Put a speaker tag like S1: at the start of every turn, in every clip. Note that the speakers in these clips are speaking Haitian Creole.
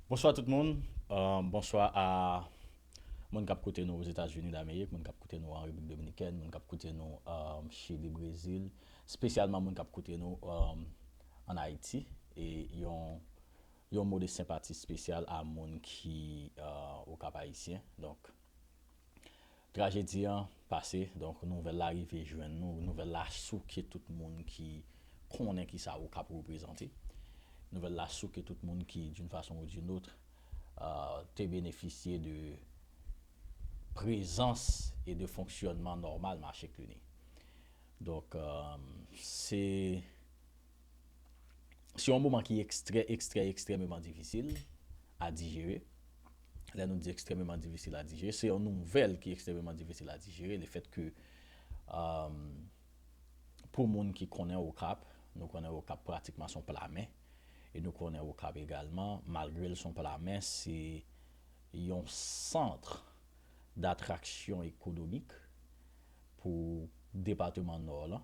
S1: Bonswa tout moun, bonswa a moun kap koute nou Ozetazini Damerik, moun kap koute nou an Repiblik Dominikèn, moun kap koute nou Chili, Brezil, spesyalman moun kap koute nou an Ayiti e yon mo de senpati spesyal a moun ki Okap Ayisyen. Trajedi an pase, donk nouvèl la rive jwenn nou, nouvèl la souke tout moun ki konnen ki sa Okap reprezante, nouvèl la souke tout moun ki d'une façon ou d'une autre te benefisye de prezans e de fonksyònman nòmal mache Cluny. Donk se Se yon moman ki ekstrè, ekstrè, ekstrèmeman difisil a dijere. Lè nou di ekstrèmeman difisil a dijere, se yon nouvèl ki ekstrèmeman difisil a dijere. Le fèt ke pou moun ki konnen Okap, nou konnen Okap pratikman se yon pla mè. E nou konnen Okap egalman, malgre l se yon pla mè, se yon santre datraksyon ekonomik pou depateman Nò lan.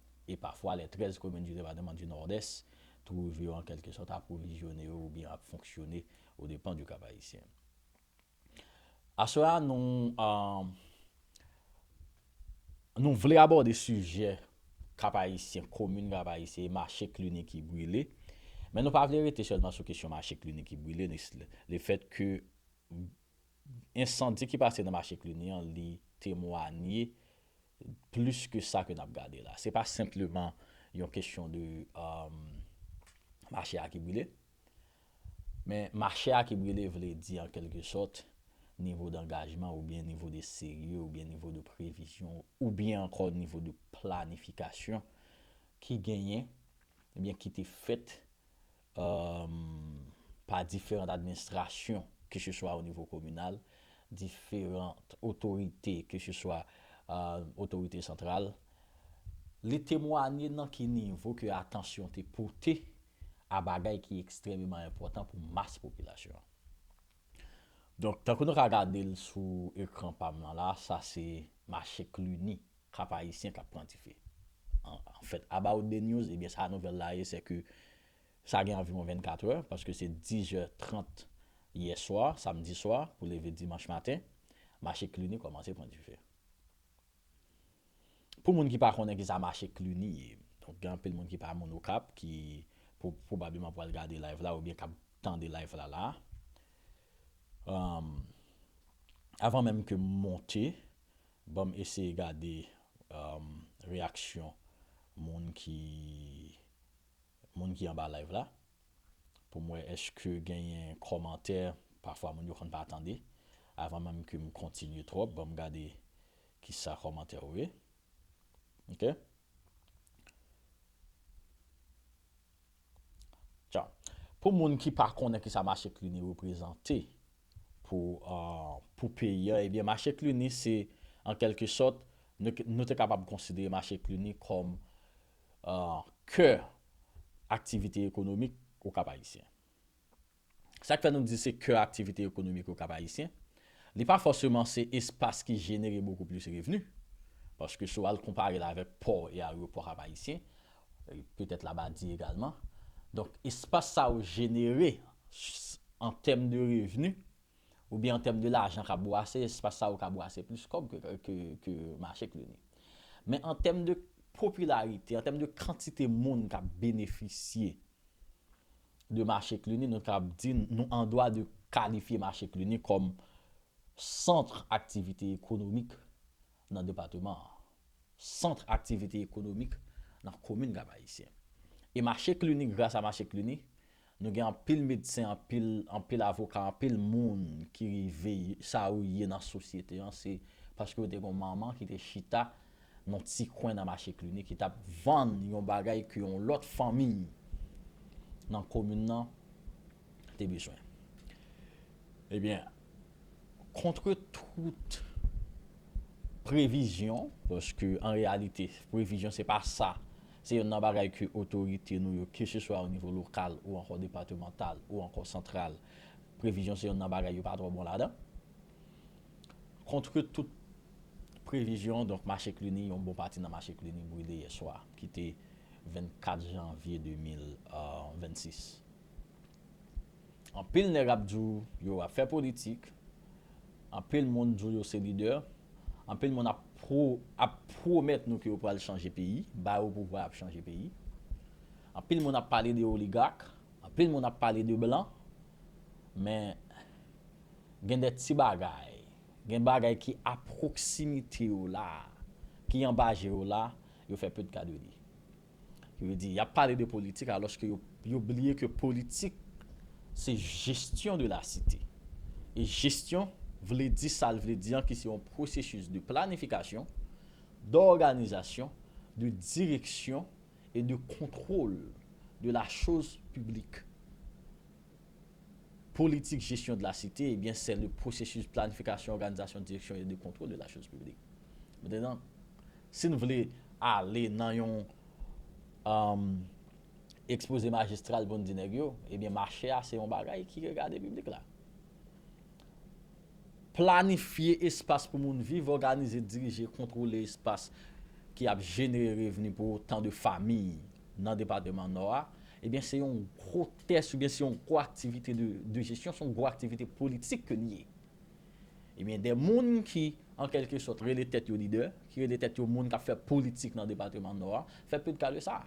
S1: e pafwa lè 13 komin du departement du Nord-Est trouve yo an kèlke sòt apwovizyone yo ou byen ap fonksyone o depan du Cap-Haïtien. Aswè a nou nou vle abòde sijè Cap-Haïtien, komin Cap-Haïtien e mache Cluny ki brile, men nou pa vle rete sèlman sou kesyon mache Cluny ki brile, le fèt ke Ensandi ki pase nan mache Cluny an li temwanye plis ke sa ke n ap gade la. Se pa senpleman yon kesyon de mache a ki brile. Men mache a ki brile vle di an kelke sòt nivo dangajman oubyen nivo de serye oubyen nivo de previzyon oubyen ankò nivo de planifikasyon ki genyen oubyen ki te fèt pa diferant administrasyon ke se swa o nivo kominal, diferant otorite ke se swa otorite santral, li temwanye nan ki nivo ke atansyon te pote a bagay ki ekstrememan enpòtan pou mas popilasyon an. Donk, tankou nou ka gade l sou ekran pa m lan la, sa se mache Cluny Kap Ayisyen kap pran dife. En fait, about the news, ebyen sa nouvèl la ye sè ke sa gen anviwon 24 è, paske se 10 jè 30 yè swa, samdi swa, pou leve dimanch maten, mache Cluny kòmanse pran dife. Pou moun ki pa konnen kisa mache Cluny ye, donk gen anpil moun ki pa moun Okap ki pwobableman pwal gade live la oubyen kap tande live la la a. Avan menm ke m monte. Banm eseye gade reyaksyon moun ki moun ki anba live la poum wè eske genyen kòmantè pafwa moun yo konn pa tande avan menm kem kontinye twòp banm gade kisa kòmantè yo ye ok. Pou moun ki pa konnen ki sa mache Cluny reprezante pou peyi an, ebyen mache Cluny se an kelke sòt, nou te kapab konsidere mache Cluny kòm kè aktivite ekonomik ou Kap Ayisyen. Sa k fè nou di se kè aktivite ekonomik okap ayisyen, li pa fòseman se espas ki jenere bokou plis revni, paske si w al konpare l avèk pò e aryopò kap ayisyen, petèt labadi egalman, donk espas sa yo jenere an tèm de revni oubyen an tèm de lajan kap bwase, espas sa yo ka bwase plis kòb ke mache k lini. Men an tèm de popilarite, an tèm de kantite moun kap benefisye de mache Cluny, nou kab di nou an dwa de kalifye mache Cluny kòm sant aktivite ekonomik nan depateman an, sant aktivite ekonomik nan komin Kap-Ayisyen. E mache Cluny, gras a mache Cluny, nou gen anpil medsen, anpil, anpil avoka, anpil moun ki rive sa yo ye nan sosyete an, se paske yo te gen yon manman ki te chita nan ti kwen nan mache Cluny ki tap vann yon bagay ke yon lòt fanmiy nan komin nan te bezwen. Ebyen, kontre tout previzyon, paske an reyalite previzyon se pa sa, se yonn nan bagay ke otorite nou yo keseswa o nivo lokal ou ankò depatemantal ou ankò santral, previzyon se yonn nan bagay yo pa twò bon ladan. Kontre tout previzyon, donk mache Cluny, yon bon pati nan mache Cluny brile yè swa, ki te 24 janvye 2026. Anpil nèg ap di w yo ap fè politik, anpil moun di w yo se lidè, anpil moun ap ap pwomèt nou ke yo pral chanje peyi, bay ou pouvwa y ap chanje peyi. Anpil moun ap pale de oligak, anpil moun ap pale de blan, men Gen de ti bagay, gen bagay ki a pwoksimite ou la a, ki anba je ou la a, yo fè peu de cas de li. Ki vle di, y ap pale de politik alòske yo yo bliye ke politik se gestion de la cité. E gestion vle di sa l vle di an ki se yon processus de planification, d'organisation, de direction et de contrôle de la chose publique. Politik gestion de la cité eh bien c'est le processus planification organisation direction et de contrôle de la chose publique Maintenant si n vle ale nan yon exposé magistral pou n di nèg yo eh bien marché a se yon bagay ki regade public la Planifye espas pou moun viv, òganize, dirije, kontwole espas ki ap jenere revni pou otan de fami nan depateman Nò a, ebyen se yon gwo tès oubyen se yon gwo aktivite de jesyon, se yon gwo aktivite politik ke li ye. Ebyen de moun ki an kèlke sòt rele tèt yo lidè, ki rele tèt yo moun k ap fè politik nan depateman Nò a, fè pe de ka de sa.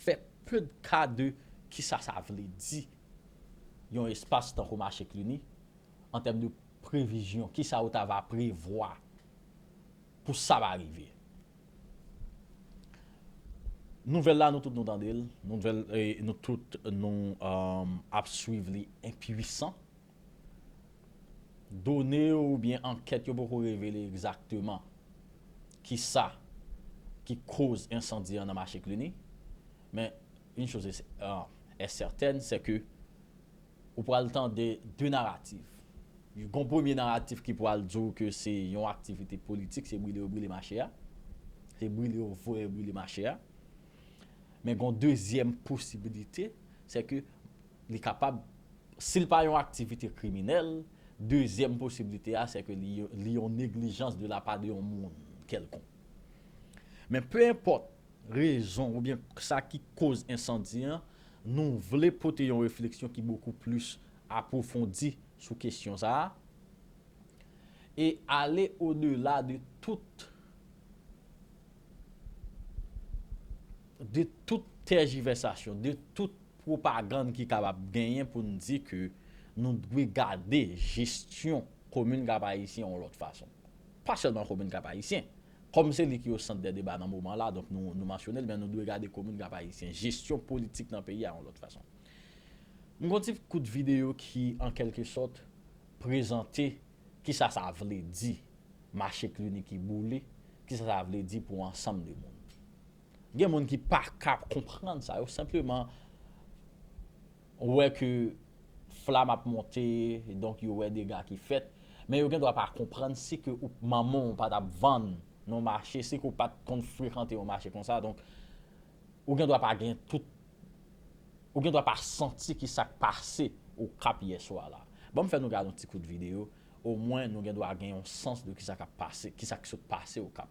S1: Fè pe de ka de kisa sa vle di. yon espas tankou mache Cluny an tèm de previzyon kisa ou ta va prevwa pou sa va rive. Nouvèl la nou tout nou tande l, nouvèl nou tout nou ap swiv li enpwisan. Done yo oubyen ankèt yo poko revele egzakteman kisa ki koz ensandi an nan mache Cluny men Une chose est certaine, c'est que ou pral tande 2 naratif. Gon premye naratif ki pral di w ke se yon aktivite politik, se brile yo brile mache a. Se brile yo voye brile mache a. Men gon dezyèm posibilite, se ke li kapab, si l pa yon aktivite kriminèl, dezyèm posibilite a se ke li yon neglijans de la pa de yon moun kèlkonk. Men pe enpòt rezon oubyen sa ki koz ensandi an, nou vle pote yon refleksyon ki bokou plis apwofondi sou kesyon sa a e ale odela de tout de tout tèjivèsasyon, de tout pwopagann ki kapab genyen pou n di ke nou dwe gade jesyon komin Kap Ayisyen yon lòt fason. Pa sèlman komin Kap Ayisyen. Kòm se li ki au centre des débats nan moman la, donk nou nou mansyone l, men nou dwe gade komin Kap Ayisyen, jesyon politik nan peyi a yon lòt fason. M gon ti kout videyo ki an kèlke sòt prezante kisa sa vle di mache klini ki boule, kisa sa vle di pou ansanm de moun. Gen moun ki paka konprann sa, yo senpleman. Ou wè ke flam ap monte donk yo wè dega ki fèt men yo gen dwa pa konprann si ke ou manman w pa t ap vann nan mache si ke w pa t konn frekante yon mache konsa donk ou gen dwa pa gen tout ou gen dwa pa santi ki sa k pase okap yè swa la ban m fè nou gade yon ti kout videyo omwen nou gen dwa gen yon sans de ki sa k ap pase ki sa k sot pase okap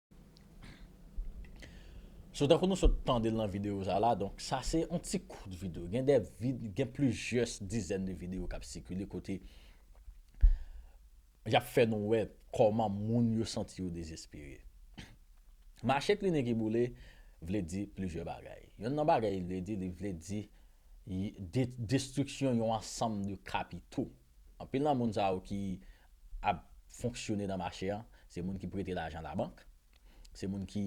S1: So tankou nou sot tande l nan videyo sa la, donk sa se yon ti kout videyo. Gen de vid, gen plizyès dizèn de videyo k ap sikile kote y ap fè nou wè kòman moun yo santi yo dezespere. Mache klini ki boule vle di plizyè bagay. Yonn nan bagay li vle di, li vle di destriksyon yon ansanm de kapito. Anpil nan moun sa yo ki ap fonksyone nan mache a, se moun ki prete lajan labank, se moun ki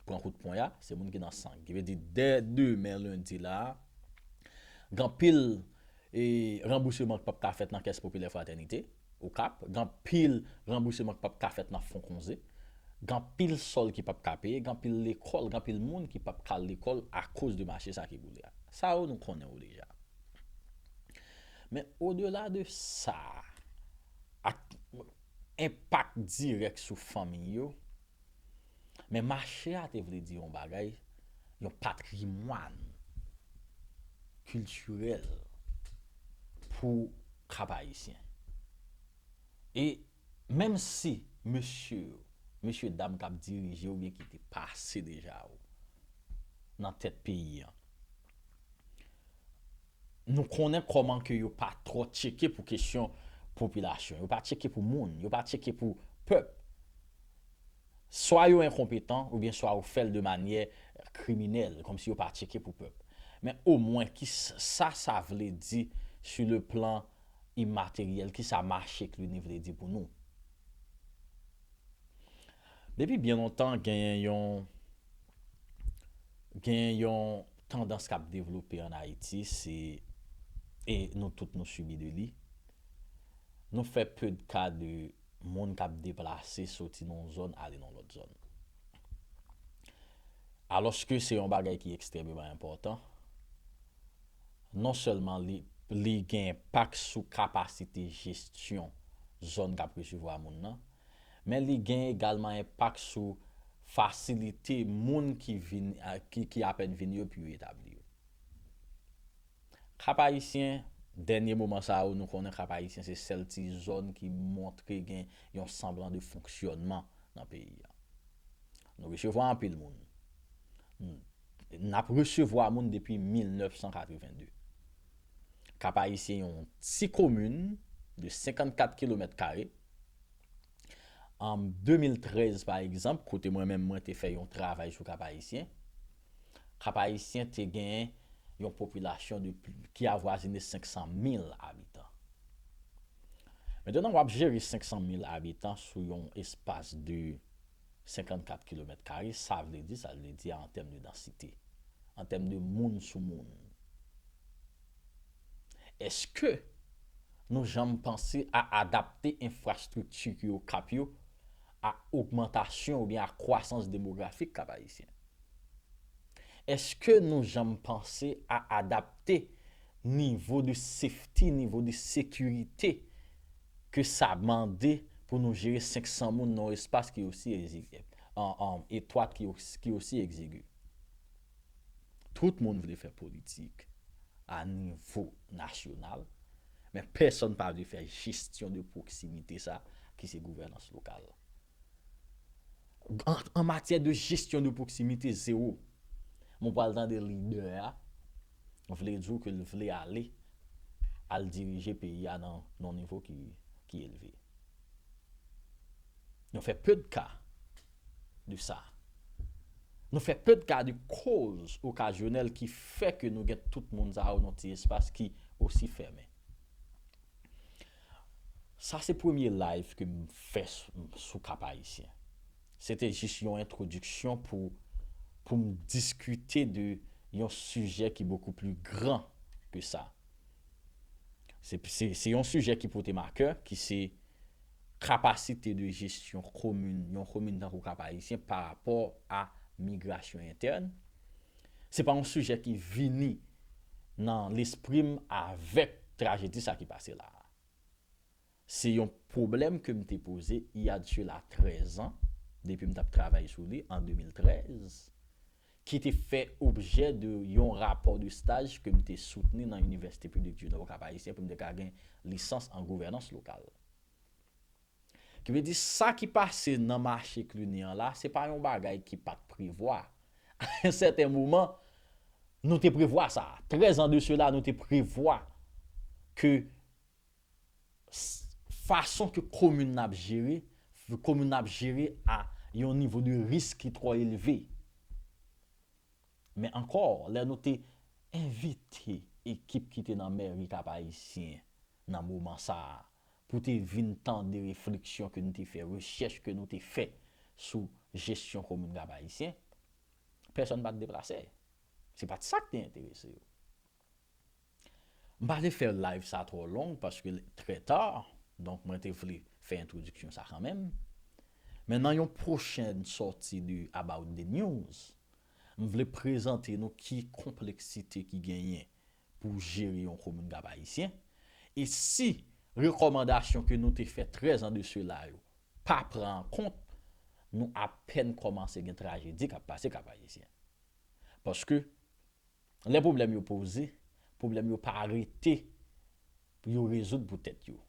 S1: pran kout pwen a, se moun ki nan san. Ki vle di dè demen lendi la a, gen anpil ranbouseman ki p ap ka fèt nan kès popilè fratènite Okap, gen anpil ranbouseman ki p ap ka fèt nan fon konze, gen anpil sòl ki p ap ka peye, gen anpil lekòl, gen anpil moun ki p ap ka al lekòl akoz de mache sa ki boule a. Sa yo nou konnen yo deja. Men odela de sa, ak enpak dirèk sou fanmi yo, men mache a te vle di yon bagay, yon patrimwàn kiltirèl pou Kapayisyen. E menm si mesye yo, mesye dam k ap dirije oubyen ki te pase deja yo nan tèt peyi an, Nou konnen kòman ke yo pa trò tcheke pou kesyon popilasyon. Yo pa tcheke pou moun. Yo pa tcheke pou pèp. Swa yo enkonpetan oubyen swa yo fèl de manyè kriminèl, kòmsi yo pa tcheke pou pèp. Men omwen ki sa sa vle di su le plan imateryèl, ki sa mache klini vle di pou nou. Depi byen lontan genyen yon genyen yon tandans k ap devlope an Ayiti se e nou tout nou sibi de li nou fè peu de cas de moun k ap deplase soti nan yon zòn ale nan yon lòt zòn alòske se yon bagay ki ekstrèmeman enpòtan non sèlman li li gen enpak sou kapasite jesyon zòn k ap resevwa moun nan men li gen egalman enpak sou fasilite moun ki vin ki apèn vin yo pou yo etabli yo. Kap Ayisyen, dènye moman sa yo nou konnen Kap Ayisyen se sèl ti zòn ki montre gen yon sanblan de fonksyònman nan peyi a. Nou resevwa anpil moun. N ap resevwa moun depi 1982. Kap Ayisyen yon ti komin de 54 kilomèt kare. An 2013 pa egzanp, kote mwen menm mwen te fè yon travay sou Kap-Ayisyen, Kap-Ayisyen te gen yon popilasyon de ki avwazine 500 mil abitan. Mentnan w ap jere 500 mil abitan sou yon espas de 54 kilomèt kare, sa vle di sa l vle di a an tèm de dansite, an tèm de moun sou moun. Eske nou janm panse a adapte enfrastrikti ki Okap yo a ogmantasyon oubyen a kwasans demografik Kap Ayisyen? Eske nou janm panse a adapte nivo de safety, nivo de sekirite ke sa mande pou nou jere 500 moun nan yon espas ki osi etwat, ki osi egzigu? Tout moun vle fè politik a nivo nasyonal, men pèsonn pa vle fè jesyon de pwoksimite sa ki se gouvènans lokal. An matyè de jesyon de pwoksimite, zewo. Men w pral tande lidè a vle di w ke l vle ale al dirije peyi a nan yon nivo ki elve. Yo fè peu de cas. de sa. Nou fè peu de cas de cause occasionnelle ki fè ke nou gen tout moun sa yo nan ti espas ki osi fèmen. Sa se premye live ke m fè sou Cap-Haïtien. Se te jis yon entwodiksyon pou pou m diskite de yon sijè ki bokou pli gran ke sa. Se se yon sijè ki pote m a kè ki se Kapasite de jesyon komin, yon komin tankou Kap-Ayisyen pa rapò a migrasyon entèn, se pa yon sijè ki vini nan lespri m avèk trajedi sa ki pase la a. Se yon pwoblèm ke m te poze il y a de cela 13 ans, depi m t ap travay sou li an 2013, ki te fè objè de yon rapò de staj ke m te soutni nan Université Publique du Nord Cap-Haïtien pou m te ka gen lisans an gouvènans lokal. Ki vle di sa ki pase nan mache Cluny an la, se pa yon bagay ki pa t prevwa. A un certain moment, nou te prevwa sa. 13 ans de cela, nou te prevwa ke fason ke komin nan ap jere, komin nan ap jere a yon nivo de risk ki twò elve. Men ankò, lè nou te envite ekip ki te nan mèri Kap Ayisyen nan moman sa a pou te vin tande refleksyon ke nou te fè, rechèch ke nou te fè sou jesyon komin Kap Ayisyen, pèsòn pa t deplase. Se pa t sa ki te enterese yo. M pa vle fè live sa twò long paske l trè ta, donk mwen te vle fè entwodiksyon sa kanmenm. Men nan yon pwochèn sòti de About the News, m vle prezante nou ki konpleksite ki genyen pou jere yon komin Kap Ayisyen, e si rekòmandasyon ke nou te fè 13 an de sela yo pa pran an kont, nou apèn kòmanse gen trajedi kap pase Kap Ayisyen. Paske. Lè pwoblèm yo poze, pwoblèm yo pa rete pou yo rezoud pou tèt yo.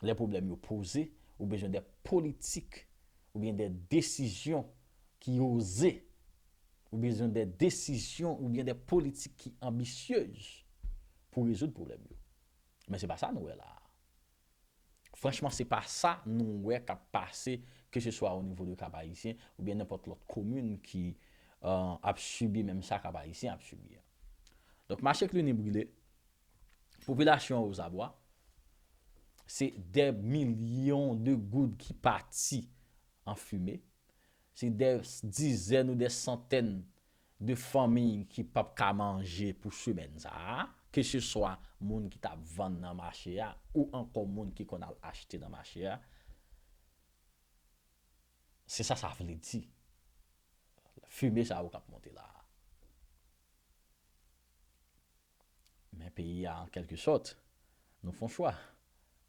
S1: Lè pwoblèm yo poze, ou bezwen de politik oubyen de desizyon ki oze, ou bezwen de desizyon oubyen de politik ki anbisyez pou rezoud pwoblèm yo. Men se pa sa nou wè la a. Franchman se pa sa nou wè kap pase ke se swa o nivo de Kap Ayisyen ou byen nenpòt lòt komin ki ap sibi menm sa Kap Ayisyen ap sibi a. Donk mache Cluny brile, popilasyon an ozabwa, se dè milyon de goud ki pati an fime, se dè dizèn ou dè santèn 2 fanmi ki p ap ka manje pou semèn sa a, keseswa moun ki t ap vann nan mache a ou ankò moun ki konn al achte nan mache a, se sa sa vle di, fimen sa yo k ap monte la a. Men peyi a an kèlke sòt, nou fon chwa.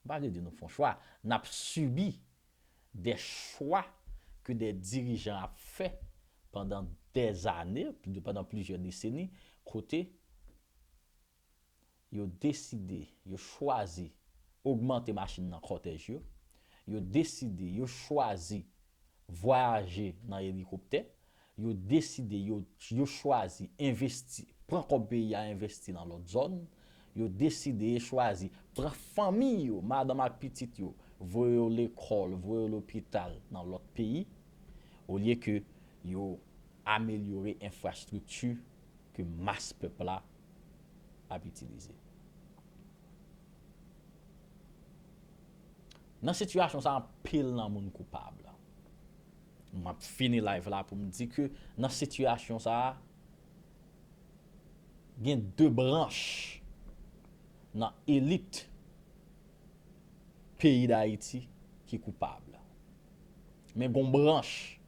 S1: M pa vle di nou fon chwa, n ap sibi de chwa ke de dirijan ap fè pandan dèzane, pandan plizyè deseni, kote yo deside, yo chwazi ogmante machin nan kòtèj yo, yo deside, yo chwazi vwayaje nan elikoptè, yo deside, yo, yo chwazi envesti, pran kòb peyi a envesti nan lòt zòn, yo deside e chwazi pran fanmi yo, madanm ak pitit yo, voye yo lekòl, voye yo lopital nan lòt peyi, olye ke yo amelyore enfrastrikti ke mas pèp la ap itilize. Nan sitiyasyon sa anpil nan moun koupab. Map fini live la poum di ke nan sitiyasyon sa gen 2 branch nan elit peyi dayiti ki koupab. Men gon branch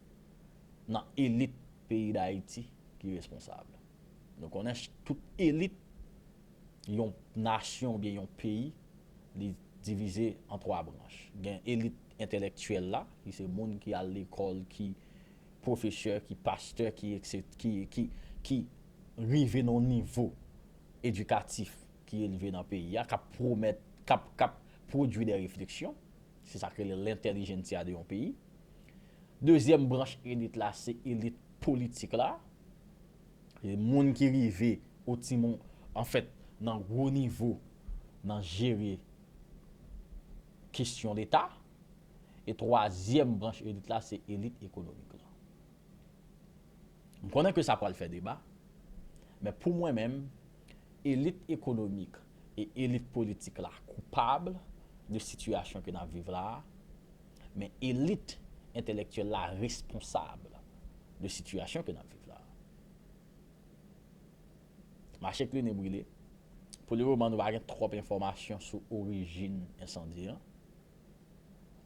S1: nan elit peyi dayiti ki responsab. Nou konnen tout elit yon nasyon oubyen yon peyi li divize an 3 branch. Gen elit entèlèktyèl la ki se moun ki al lekòl, ki pwofesè, ki pastè, ki ekset, ki, ki, ki rive nan yon nivo edikatif ki elve nan peyi a, k ap pwomèt, k ap, k ap pwodui dè refleksyon. Se sa k rele lentèlijentsia de yon peyi. Dezyèm branch elit la se elit politik la. moun ki rive o ti moun anfèt nan gwo nivo nan jere kesyon leta e twazyèm branch elit la se elit ekonomik lan. M konnen ke sa pral fè deba men pou mwen menm elit ekonomik e elit politik la koupab de sitiyasyon ke n ap viv la a, Men elit entèlèktyèl la responsab de sitiyasyon ke nap viv la. Mache klinen brile. Pou le moman nou pa gen twòp enfòmasyon sou orijin ensandi an.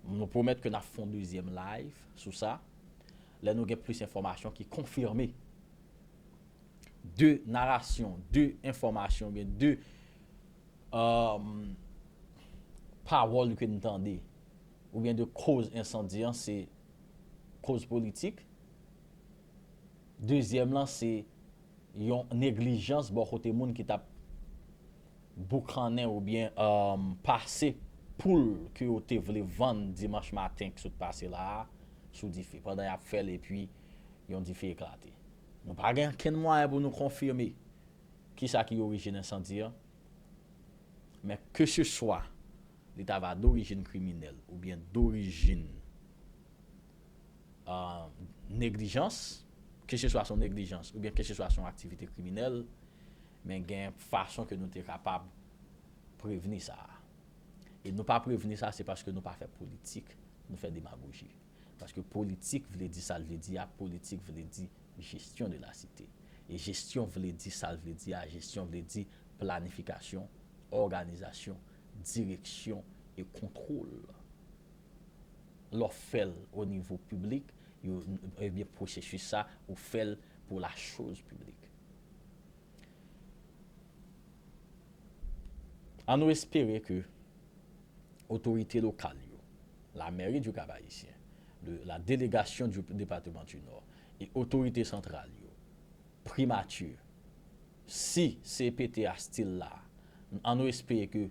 S1: Nou pwomèt ke nap fon dezyèm live sou sa lè nou gen plis enfòmasyon ki konfime. De narasyon, de enfòmasyon oubyen de pawòl ke nou tande ou byen de koz ensandi an se koz politik, dezyèm lan se yon neglijans bò kote moun ki tap boukannen ou byen pase poul ke yo te vle vann dimanch maten ki sot pase la a sou dife pandan yap fèl epi yon dife eklate. Nou pa gen ankenn mwayen pou nou konfime kisa ki orijin ensandi an men ke se swa Li ta va dorijin kriminèl oubyen dorijin neglijans, keseswa se yon neglijans oubyen keseswa se yon aktivite kriminèl, men gen fason ke nou te kapab prevni sa a. E nou pa prevni sa a se paske nou pa fè politik, nou fè demagoji. Paske politik vle di sa l vle di a, politik vle di gestion de la cité. E gestion vle di sa l vle di a, gestion vle di planifikasyon, òganizasyon, direksyon e kontwol. Lè w fè l o nivo piblik, yo, ebyen pwosesis sa, ou fè l pou la choz piblik. An nou espere ke otorite lokal yo, la Mèri du Cap-Haïtien, le la Délégation du Département du Nord e otorite santral yo, Primati, si CPT a still la, an nou espere ke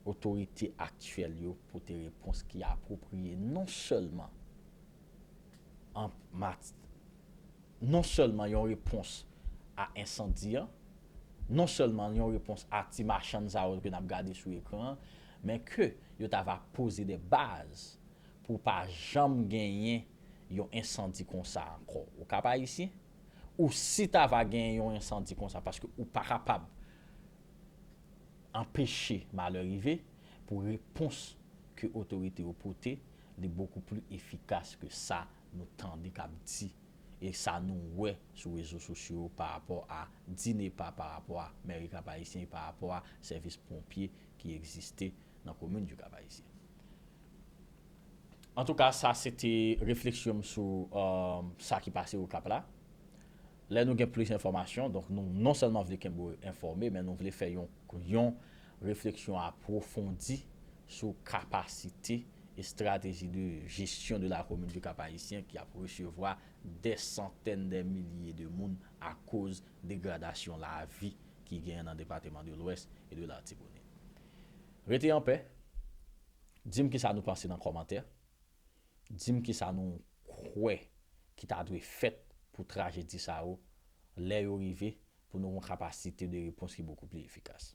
S1: otorite aktyèl yo pote repons ki apwopriye non sèlman an mati, non sèlman yon repons a ensandi an, non sèlman yon repons a ti machann sa yo ke n ap gade sou ekran an, men ke yo ta va poze de baz pou pa janm genyen yon ensandi konsa ankò o Kap Ayisyen, ou si ta va genyen yon ensandi konsa, paske ou pa kapab anpeche malè rive, pou repons ke otorite yo pote li bokou pli efikas ke sa nou tande kap di e sa nou wè sou rezo sosyo yo pa rapò a DINEPA, pa rapò a Mèri Kap Ayisyen, pa rapò a sèvis ponpye ki egziste nan komin du Cap Haïtien. Antouka sa se te refleksyon m sou sa ki pase Okap la. Lè nou gen plis enfòmasyon, donk nou non sèlman vle kenbe w enfòme men nou vle fè yon refleksyon apwofondi sou kapasite, estrateji de gestion de la commune du Cap Haïtien ki ap resevwa dè santèn dè milye de moun akoz degradasyon lavi ki genyen nan depateman de lwès e de latibonit. Rete anpè, di m kisa nou panse nan kòmantè, di m kisa nou kwè ki ta dwe fèt pou trajedi sa yo lè yo rive pou nou gon kapasite de repons ki bokou pli efikas.